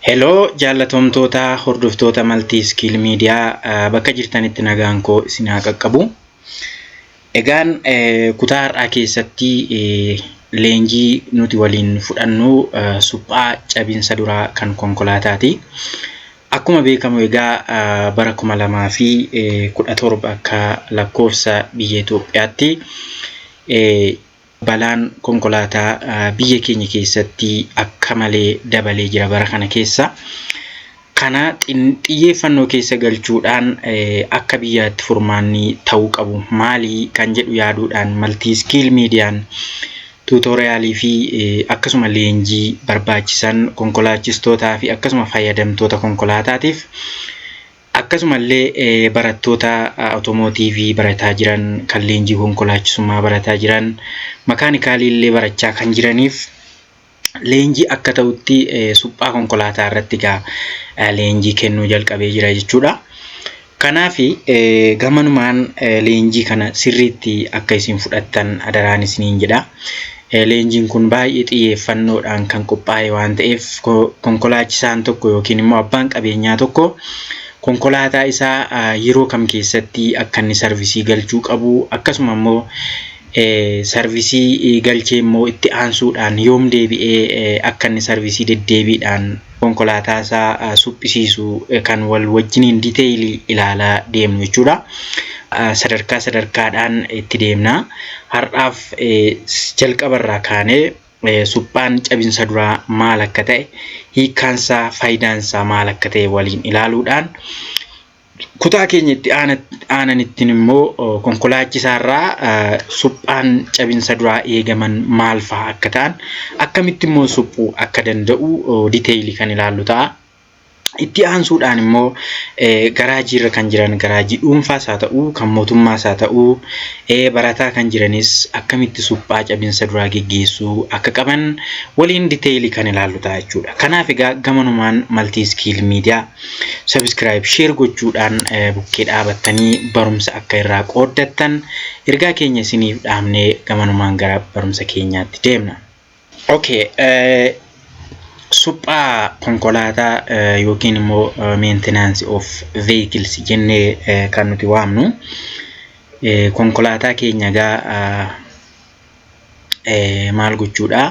Heloo jaallatomtoota hordoftoota Maltii Skill Media bakka jirtanitti nagaan koo isin haa qaqqabu. Egaan kutaa har'aa keessatti leenjii nuti waliin fudhannu suphaa cabinsa duraa kan konkolaataati. Akkuma beekamu egaa bara 2017 akka lakkoofsa biyya Itoophiyaatti Balaan konkolaataa biyya keenya keessatti akka malee dabalee jira bara kana keessa. Kana xiyyeeffannoo keessa galchuudhaan akka biyyaatti furmaanni ta'uu qabu maali kan jedhu yaaduudhaan maltii iskiil miidiyaan tuutooriyaalii fi akkasuma leenjii barbaachisan konkolaachistootaa fi akkasuma fayyadamtoota konkolaataatiif Akkasuma illee barattoota Otomootiivii barataa jiran, kan leenjii konkolaachisummaa barataa jiran, makaanikaalii illee barachaa kan jiraniif leenjii akka ta'utti suphaa konkolaataa irratti egaa leenjii kennuu jalqabee jira jechuudha. Kanaaf gamanumaan leenjii kana sirriitti akka isin fudhattan adaraan isiniin jedha. Leenjiin kun baay'ee xiyyeeffannoodhaan kan qophaa'e waan ta'eef konkolaachisaan tokko yookiin immoo abbaan qabeenyaa tokko konkolaataa isaa yeroo kam keessatti akka inni sarvisii galchuu qabu akkasuma immoo sarvisii galchee immoo itti aansuudhaan yoom deebi'ee akka inni sarvisii deddeebiidhaan konkolaataa isaa suphisiisu kan wal wajjiniin diteeyilii ilaalaa deemnu jechuudha. Sadarkaa sadarkaadhaan itti deemna. Har'aaf jalqaba irraa kaanee suphaan cabinsa duraa maal akka ta'e, hiikkaansaa, faayidaansaa maal akka ta'e waliin ilaaluudhaan Kutaa keenya itti aananittiin immoo konkolaachisaarraa suphaan cabinsa duraa eegaman maal fa'a akka ta'an akkamitti immoo suphuu akka danda'u diteeyilii kan ilaallu ta'a. Itti aansuudhaan immoo garaajiirra kan jiran garaajii dhuunfaas haa ta'u kan mootummaas haa ta'u barataa kan jiranis akkamitti suphaa cabinsa duraa geggeessuu akka qaban waliin diteeyilii kan ilaallu ta'a jechuudha. Kanaaf egaa gamanumaan maltii iskiil miidiyaa Subscribe, share gochuudhaan bukkee dhaabattanii barumsa akka irraa qooddattan ergaa keenya isiniif dhaamnee gamanumaan gara barumsa keenyaatti deemna. Okay, suphaa konkolaataa yookiin immoo maintenance of vehicles jennee kan nuti waamnu konkolaataa keenya egaa maal gochuudha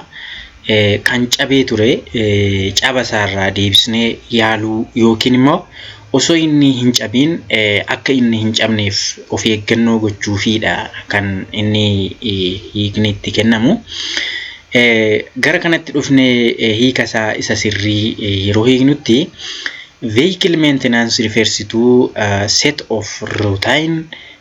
kan cabee ture caba isaarraa deebisnee yaaluu yookiin immoo osoo inni hin cabiin akka inni hin cabneef of eeggannoo gochuufiidha kan inni hiikni itti kennamu. Gara kanatti dhufnee hiika isaa isa sirrii yeroo hiiknutti vehicle maintenance refers to uh, set of routine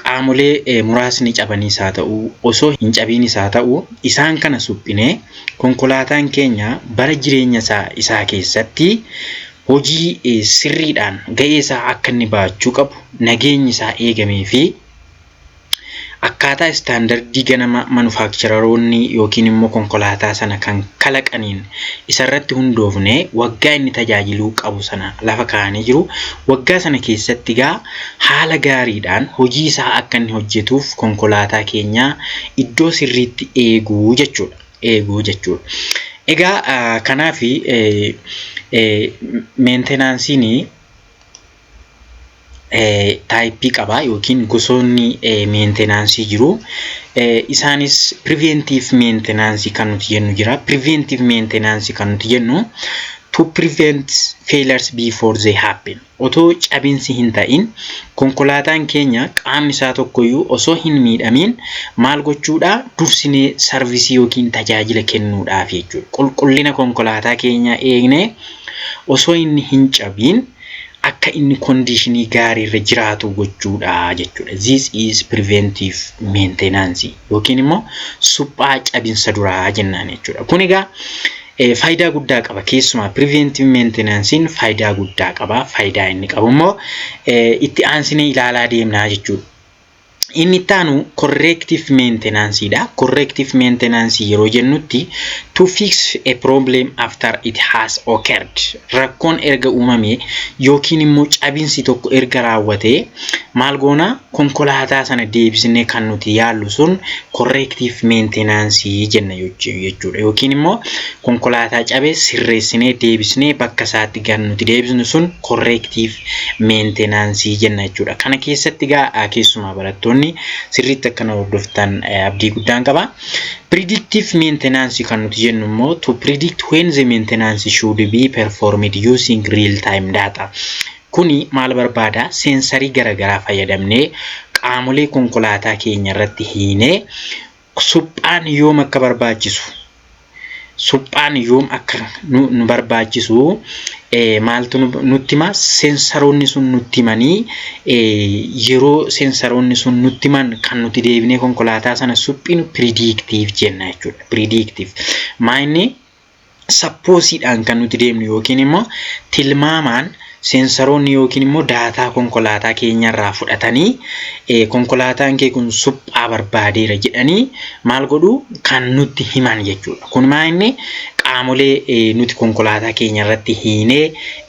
qaamolee muraasni cabanis haa ta'uu, osoo hin cabiinis haa ta'u, isaan kana suphinee konkolaataan keenya bara jireenya isaa isaa keessatti hojii sirriidhaan ga'ee isaa akka inni ba'achuu qabu, nageenyi isaa eegamee fi akkaataa istaandardii ganama manufaakchararoonni yookiin immoo konkolaataa sana kan kalaqaniin isa irratti hundoofnee waggaa inni tajaajiluu qabu sana lafa kaa'anii jiru. Waggaa sana keessatti egaa haala gaariidhaan hojii isaa akka inni hojjetuuf konkolaataa keenya iddoo sirriitti eeguu jechuudha. Eeguu jechuudha. Egaa kanaaf meentenaansiin taayippii qaba yookiin gosoonni meentenaansii jiru. Isaanis piriveentiif meentenaansii kan nuti jennu jira. Piriveentiif meentenaansii kan nuti jennu to prevent failures before they happen. Otoo cabinsi hin ta'in konkolaataan keenya qaamni isaa tokkoyyuu osoo hin miidhamiin maal gochuudhaa dursinee sarvisii yookiin tajaajila kennuudhaafi jechuudha. Qulqullina konkolaataa keenyaa eegnee osoo inni hin cabiin akka inni kondiishinii gaarii irra jiraatu gochuudha jechuudha. This is preventive maintenance yookiin immoo suphaa cabinsa duraa jennaan jechuudha. Kun egaa Faayidaa guddaa qaba. Keessumaa preventive maintenance'n faayidaa guddaa qaba. Faayidaa inni qabu immoo itti aansinee ilaalaa deemnaa jechuudha. Inni itti aanu corrective maintenance dha. Corrective maintenance yeroo jennutti to fix a problem after it has occurred. Rakkoon erga uumamee yookiin immoo cabinsi tokko erga raawwatee Maal goona? Konkolaataa sana deebisnee kan nuti yaallu sun corrective maintenance jenna jechuudha. Yookiin immoo konkolaataa cabe sirreessinee deebisnee bakka isaatti kan nuti deebisnu sun corrective maintenance jenna jechuudha. Kana keessatti egaa keessumaa barattoonni sirriitti akka na hordoftan abdii guddaan qaba. Predictive maintenance kan nuti jennu immoo to predict when the maintenance should be performed using real time data. Kuni maal barbaada? Seensarii garagaraa fayyadamnee qaamolee konkolaataa keenya irratti hiinee suphaan yoom akka barbaachisu suphaan yoom akka nu barbaachisu maaltu nutti hima? Seensaroonni sun nutti himanii yeroo seensaroonni sun nutti himan kan nuti deebinee konkolaataa sana suphinu piridiiktiif jenna jechuudha. Piridiiktiif. Maayinni sappoosiidhaan kan nuti deemnu yookiin immoo tilmaamaan seensaroonni yookiin immoo daataa konkolaataa keenyarraa fudhatanii eh, konkolaataan kee kun suphaa barbaadeera jedhanii maal godhu kan nutti himan jechuudha. Kun maa inni qaamolee eh, nuti konkolaataa keenya irratti hiinee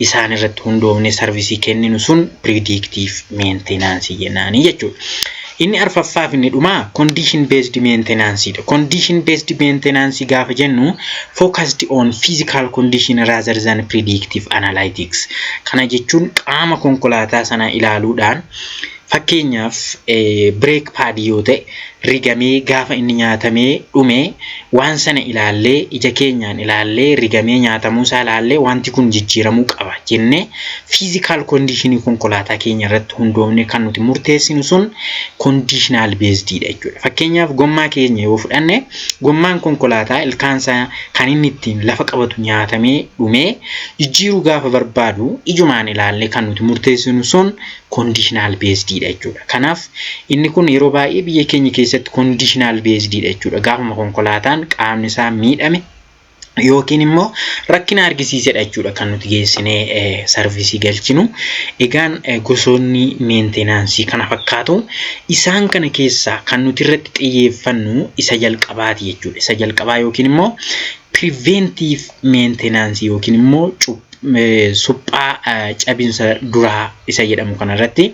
isaan irratti hundoofnee sarvisii kenninu sun piridiiktiif meentenaansi jennaanii jechuudha. Inni arfaffaa fi inni dhumaa condition based maintenance dha. Condition based maintenance gaafa jennu focused on physical condition rather than predictive analytics. Kana jechuun qaama konkolaataa sana ilaaluudhaan fakkeenyaaf break pad yoo ta'e rigamee gaafa inni nyaatamee dhume Waan sana ilaallee, ija keenyaan ilaallee, rigamee nyaatamuu isaa ilaallee wanti kun jijjiiramuu qaba jennee physical condition konkolaataa keenya irratti hundoofnee kan nuti murteessinu sun conditional based dha jechuudha. Fakkeenyaaf gommaa keenya yoo fudhanne gommaan konkolaataa ilkaan isaa kan inni ittiin lafa qabatu nyaatamee dhumee jijjiiruu gaafa barbaadu ijumaan ilaallee kan nuti murteessinu sun conditional based dha jechuudha. Kanaaf inni kun yeroo baay'ee biyya keenya keessatti conditional based dha jechuudha. Gaafuma konkolaataan qaamni isaa miidhame yookiin immoo rakkina argisiisedha jechuudha kan nuti geessinee sarviisii galchinu. Egaan gosoonni meentenaansii kana fakkaatu. Isaan kana keessaa kan nuti irratti xiyyeeffannu isa jalqabaati jechuudha. Isa jalqabaa yookiin immoo Preventive maintenance yookiin immoo suphaa cabinsa duraa isa jedhamu kanarratti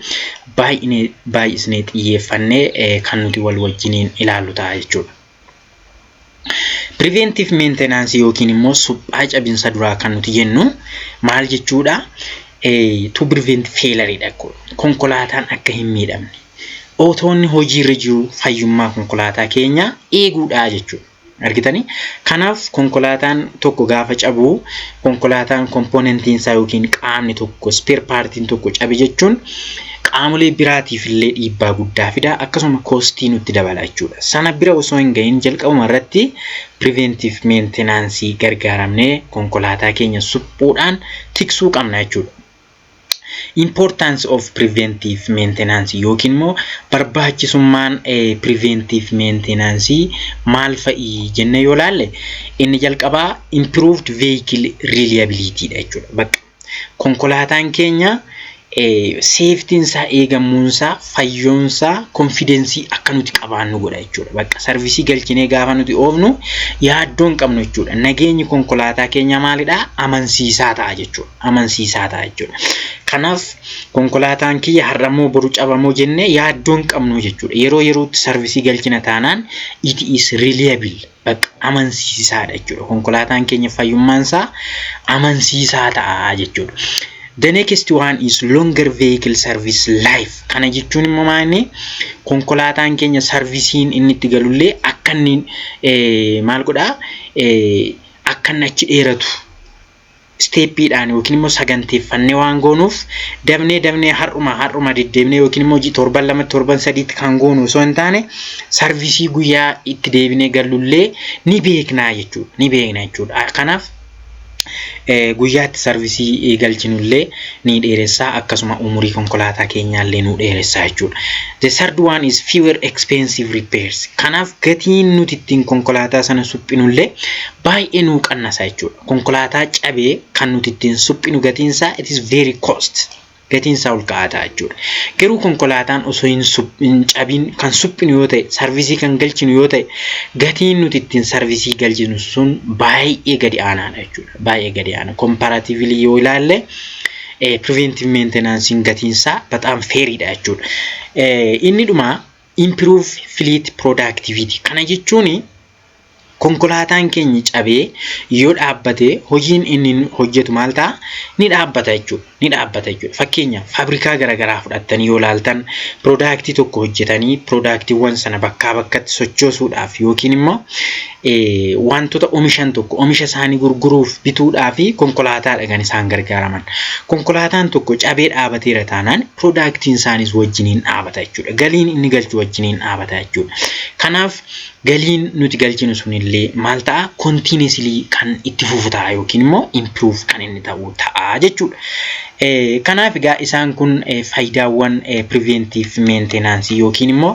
baay'isnee xiyyeeffannee kan nuti wal wajjiniin ilaallu ta'a jechuudha. Preventive maintenance yookiin immoo suphaa cabinsa duraa kan nuti jennu maal jechuudha? To prevent failure dha. Konkolaataan akka hin miidhamne. Otoonni hojiirra jiru fayyummaa konkolaataa keenyaa eeguudha jechuudha. Argitanii? Kanaaf konkolaataan tokko gaafa cabu konkolaataan kompoonentiin isaa yookiin qaamni tokko ispeer paartiin tokko cabe jechuun qaamolee biraatiif illee dhiibbaa guddaa fida akkasuma koostii nutti dabala jechuudha. Sana bira osoo hin gahin jalqabuma irratti piriveentiif meentenaansii gargaaramnee konkolaataa keenya suphuudhaan tiksuu qabna jechuudha. Importance of Preventive Maintenance yookiin immoo barbaachisummaan Preventive Maintenance maal fa'i jennee yoo laalle inni jalqabaa Improved Vehicle Reliability dha jechuudha. Bakka konkolaataan keenya seeftiin isaa eegamuun isaa fayyoon isaa konfidensii akka nuti qabaannu godha jechuudha. Bakka sarvisii galchinee gaafa nuti oofnu yaaddoon qabnu jechuudha. Nageenyi konkolaataa keenya maalidha? Amansiisaa ta'a jechuudha. amansiisaa ta'a jechuudha. Kanaaf konkolaataan kiyya har'ammoo boru cabamoo jennee yaaddoo hin qabnu jechuudha. Yeroo yerootti sarvisii galchina taanaan it is reliable bakka amansiisaadha jechuudha. Konkolaataan keenya fayyummaan isaa amansiisaa ta'a jechuudha. The next one is longer vehicle service life. Kana jechuun immoo maali? Konkolaataan keenya sarvisiin inni itti galullee akka inni maal godhaa? Akka inni achi dheeratu isteeppiidhaan yookiin immoo saganteeffannee waan goonuuf dabnee dabnee har'uma har'uma deddeebinee yookiin immoo hojii torban lama torban sadiitti kan goonu osoo hin taane sarvisii guyyaa itti deebinee gallullee ni beeknaa jechuudha ni beekna jechuudha kanaaf guyyaatti sarvisii galchinullee ni dheeressaa akkasuma umurii konkolaataa keenyaallee nu dheeressaa jechuudha. The third one is fewer expensive repairs. Kanaaf gatiin nuti ittiin konkolaataa sana suphinullee baay'ee nuu qannasa jechuudha. konkolaataa cabee kan nuti ittiin suphinu gatiinsaa it is very cost gatiinsaa ol ka'aa ta'a jechuudha. Garuu konkolaataan osoo hin, sup- hin cabin kan suphinu yoo ta'e sarvisii kan galchinu yoo ta'e gatiin nuti ittiin sarvisii galchinu sun baay'ee gadi aanaadha jechuudha. Baay'ee gadi aana. Komparaatiivili yoo ilaalle eh, preventive maintenance gatiinsaa bataam feeriidha jechuudha. Eh, inni dhumaa improve fleet productivity kana jechuuni Konkolaataan keenyi cabee yoo dhaabbate hojiin inni hojjetu maal ta'a? Ni dhaabbata jechuudha. Ni dhaabbata jechuudha. Fakkeenyaaf faabrikaa garaagaraa fudhattanii yoo ilaaltan piroodaaktii tokko hojjetanii piroodaaktiiwwan sana bakkaa bakkatti sochoosuudhaaf yookiin immoo wantoota omishan tokko omisha isaanii gurguruuf bituudhaa fi konkolaataadha kan isaan gargaaraman. Konkolaataan tokko cabee dhaabateera taanaan piroodaaktiin isaaniis wajjiniin dhaabata jechuudha. Galiin inni galchu wajjiniin dhaabata jechuudha. Kanaaf Galiin nuti galchinu sun illee maal ta'a? Continuously kan itti fufu ta'a yookiin immoo improve kan inni ta'u ta'a jechuudha. Kanaaf egaa isaan kun faayidaawwan preventive maintenance yookiin immoo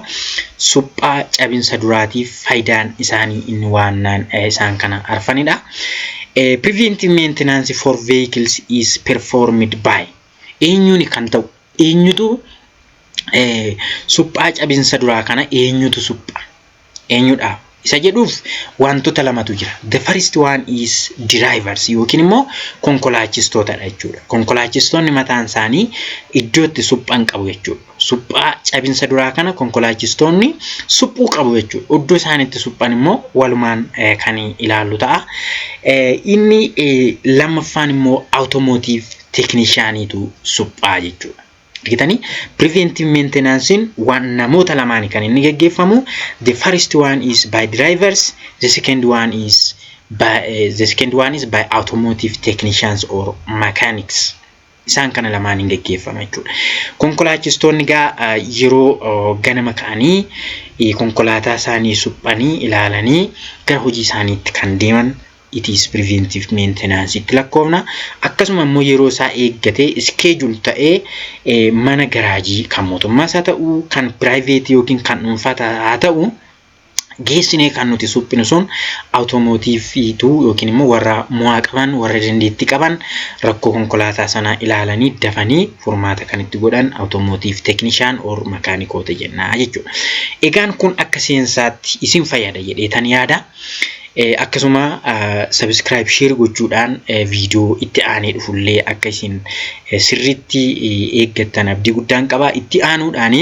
suphaa cabinsa duraatiif faayidaan isaanii inni waannaan isaan kana arfanidha. Preventive maintenance for vehicles is performed by eenyuuni kan ta'u eenyutu suphaa cabinsa duraa kana eenyutu supha eenyudha isa jedhuuf wantoota lamatu jira. The first one is drivers yookiin immoo konkolaachistootadha jechuudha. Konkolaachistoonni mataan isaanii iddoo itti suphan qabu jechuudha. Suphaa cabinsa duraa kana konkolaachistoonni suphuu qabu jechuudha. Iddoo isaan itti suphan immoo walumaan kan ilaallu ta'a. Inni lammaffaan immoo awutoomotiif teeknishaaniitu suphaa jechuudha. Argitanii preventive maintenance waan namoota lamaani kan inni geggeeffamu the first one is by drivers the second one is by, eh, the second one is by automotive technicians or mechanics. Isaan kana lamaan hin geggeeffama jechuudha. Konkolaachistoonni gaa ah, yeroo oh, ganama ka'anii eh, konkolaataa isaanii suphanii ilaalanii gara hojii isaaniitti kan deeman it is preventive maintenance itti lakkoofna akkasuma immoo yeroo isaa eeggatee schedule ta'ee eh, mana garaajii kan mootummaas haa ta'u kan private yookiin kan dhuunfaa ta- haa ta'u geessinee kan nuti suphinu sun awutoomotiiviitu yookiin immoo warra mo'aa qaban warra dandeettii qaban rakkoo konkolaataa sanaa ilaalanii dafanii furmaata kan itti godhan awutoomotiiv teeknishaan or makaanikoota jennaa jechuudha. Egaan kun akka seensaatti isin fayyada jedheetan yaada. Akkasuma subscribe share gochuudhaan viidiyoo itti aanee dhufullee akka isin sirriitti eeggattan abdii guddaan qaba. Itti aanuudhaan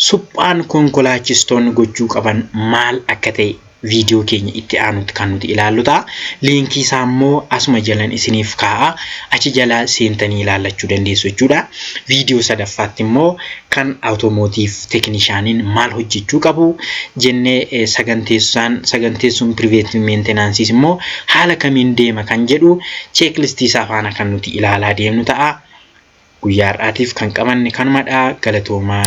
suphaan konkolaachistoonni gochuu qaban maal akka ta'e viidiyoo keenya itti aanutti kan nuti ilaallu ta'a. Liinkii isaa immoo asuma jalan isiniif kaa'a. Achi jala seentanii ilaallachuu dandeessu jechuudha. Viidiyoo sadaffaatti immoo kan awutoomotiif teeknishaaniin maal hojjechuu qabu jennee saganteessaan saganteessuun piriveetiv meentenaansiis immoo haala kamiin deema kan jedhu cheeklistii isaa faana kan nuti ilaalaa deemnu ta'a. Guyyaa har'aatiif kan qabanne kanumadha galatoomaa.